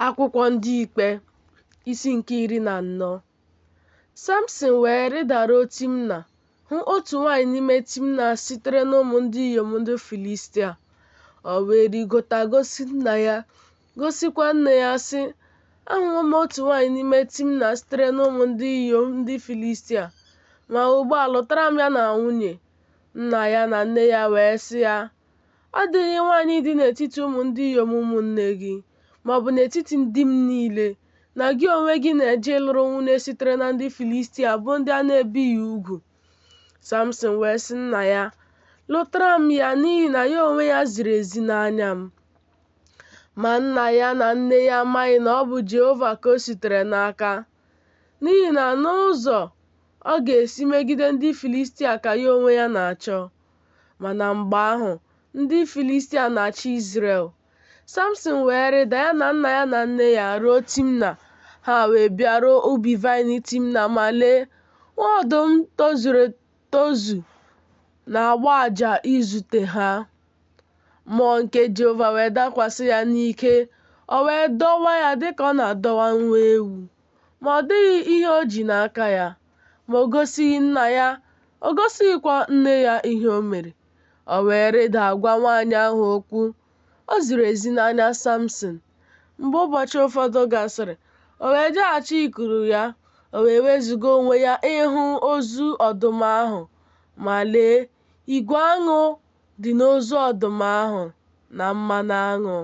Akwụkwọ Ndị Ikpe isi nke iri na anọ Samson wee rịdaruo Timna hụ otu nwaanyị n'ime Timna sitere n'ụmụ ndị inyom ndị Filistia. O wee rigota gosi nna ya, gosikwa nne ya sị, Ahụwo m otu nwaanyị n'ime Timna sitere n'ụmụ ndị inyom ndị Filistia, ma ugbu a lụtara m ya na nwunye. Nna ya na nne ya wee sị ya, Ọ dịghị nwaanyị dị n'etiti ụmụ ndị inyom ụmụnne gị, ma ọ bụ n'etiti ndị m niile, na gị onwe gị na-eje ịlụrụ nwunye sitere na ndị Filistia bụ ndị a na-ebighị ugwu. Samson wee sị nna ya, Lụtara m ya n'ihi na ya onwe ya ziri ezi n'anya m. Ma nna ya na nne ya amaghị na ọ bụ Jehova ka o sitere n'aka, n'ihi na n'ụzọ ọ ga-esi megide ndị Filistia ka ya onwe ya na-achọ, Ma na mgbe ahụ, ndị Filistia na-achị Izrel. Samson wee rịda ya na nna ya na nne ya ruo Timna, ha wee bịaruo ubi vaịn Timna ma lee, nwa ọdụm tozuru etozu na-agbọ ụja izute ha. Mmụọ nke Jehova wee dakwasị ya n'ike, o wee dọwa ya dịka ọ na-adọwa nwa ewu, ma ọ dịghị ihe o ji n'aka ya. ma o gosighị nna ya, o gosighịkwa nne ya ihe o mere. O wee rịda gwa nwaanyị ahụ okwu. O ziri ezi n'anya Samson. Mgbe ụbọchị ụfọdụ gasịrị, o wee jeghachi ikuru ya, o wee wezuga onwe ya ịhụ ozu ọdụm ahụ. Ma lee, igwe aṅụ dị n'ozu ọdụm ahụ na mmanụ aṅụ.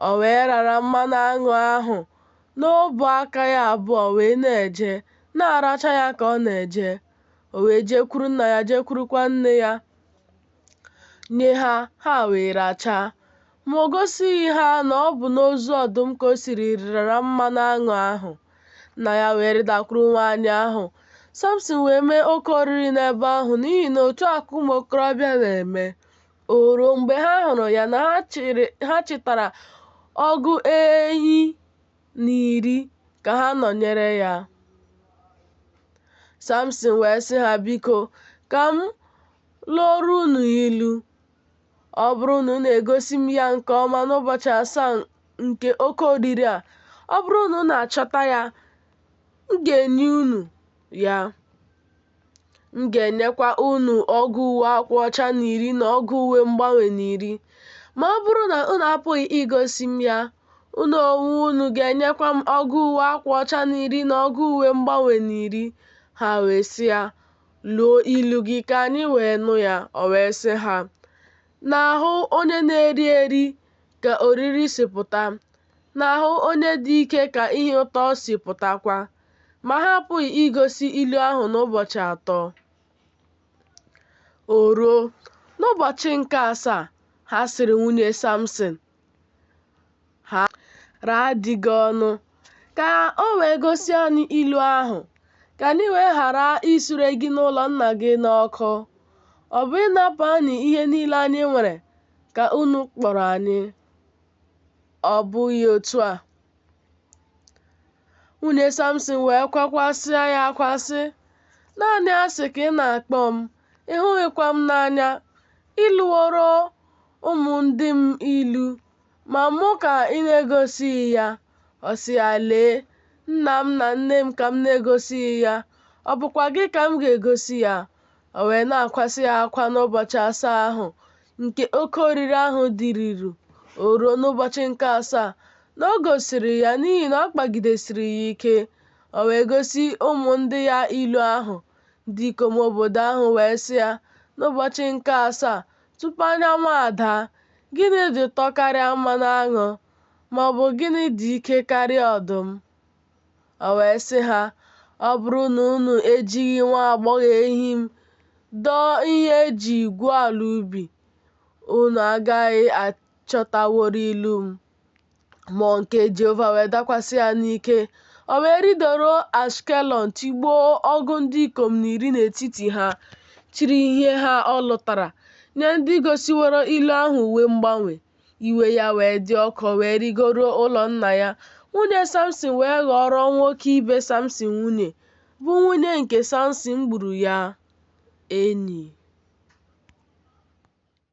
O wee rara mmanụ aṅụ ahụ n'ọbụ aka ya abụọ wee na-eje, na-aracha ya ka ọ na-eje. O wee jekwuru nna ya, jekwurukwa nne ya, nye ha, ha wee rachaa. Ma o gosighị ha na ọ bụ n'ozu ọdụm ka o siri rara mmanụ aṅụ ahụ. Nna ya wee rịdakwuru nwaanyị ahụ. Samson wee mee oke oriri n'ebe ahụ n'ihi na otu a ka ụmụ okorobịa na-eme. O ruo mgbe ha hụrụ ya na ha chịtara ọgụ enyi na iri ka ha nọnyere ya. Samson wee sị ha, Biko, ka m lụọrọ unu ilu. Ọ bụrụ na unu egosi m ya nke ọma n'ụbọchị asaa nke oke oriri a, ọ bụrụ na unu achọta ya, m ga-enye unu ya. M ga-enyekwa unu ọgụ uwe akwa ọcha na iri na ọgụ uwe mgbanwe na iri. Ma ọ bụrụ na unu apụghị igosi m ya, unu onwe unu ga-enyekwa m ọgụ uwe akwa ọcha na iri na ọgụ uwe mgbanwe na iri. Ha wee sị ya, Luo ilu gị ka anyị wee nụ ya. O wee sị ha, N'ahụ onye na-eri eri ka oriri si pụta, n'ahụ onye dị ike ka ihe ụtọ si pụtakwa. ma ha apụghị igosi ilu ahụ n'ụbọchị atọ. O ruo, n'ụbọchị nke asaa, ha sịrị nwunye Samson, Rara di gị ọnụ, ka o wee gosi anyị ilu ahụ, ka anyị wee ghara isure gị na ụlọ nna gị n'ọkụ. Ọ bụ ịnapụ anyị ihe niile anyị nwere ka unu kpọrọ anyị, ọ bụghị otu a? nwunye samson wee kwakwasịa ya akwa sị naanị asị ka ị na-akpọ m ị hụghịkwa m n'anya i luworo ụmụ ndị m ilu ma mụ ka ị na-egosighị ya ọ sị ya lee nna m na nne m ka m na-egosighị ya ọ bụkwa gị ka m ga-egosi ya O wee na-akwasị ya akwa n'ụbọchị asaa ahụ nke oke oriri ahụ dịruru, o ruo n'ụbọchị nke asaa na o gosiri ya n'ihi na ọ kpagidesiri ya ike. O wee gosi ụmụ ndị ya ilu ahụ. Ndị ikom obodo ahụ wee sị ya, N'ụbọchị nke asaa, tupu anyanwụ adaa, gịnị dị ụtọ karịa mmanụ aṅụ? Ma ọ bụ gịnị dị ike karịa ọdụm? O wee sị ha, Ọ bụrụ na unu ejighị nwa agbọghọ ehi m dọọ ihe e ji gwuo ala ubi, unu agaghị achọtawori ilu m. Mmụọ nke Jehova wee dakwasị ya n'ike. O wee rịdaruo Ashkelọn tigbuo ọgụ ndị ikom na iri n'etiti ha, chịrị ihe ha ọ lụtara nye ndị gosiworo ilu ahụ uwe mgbanwe. iwe ya wee dị ọkụ wee rigoruo ụlọ nna ya nwunye samson wee ghọọrọ nwoke ibe samson nwunye bụ nwunye nke samson gburu ya enyi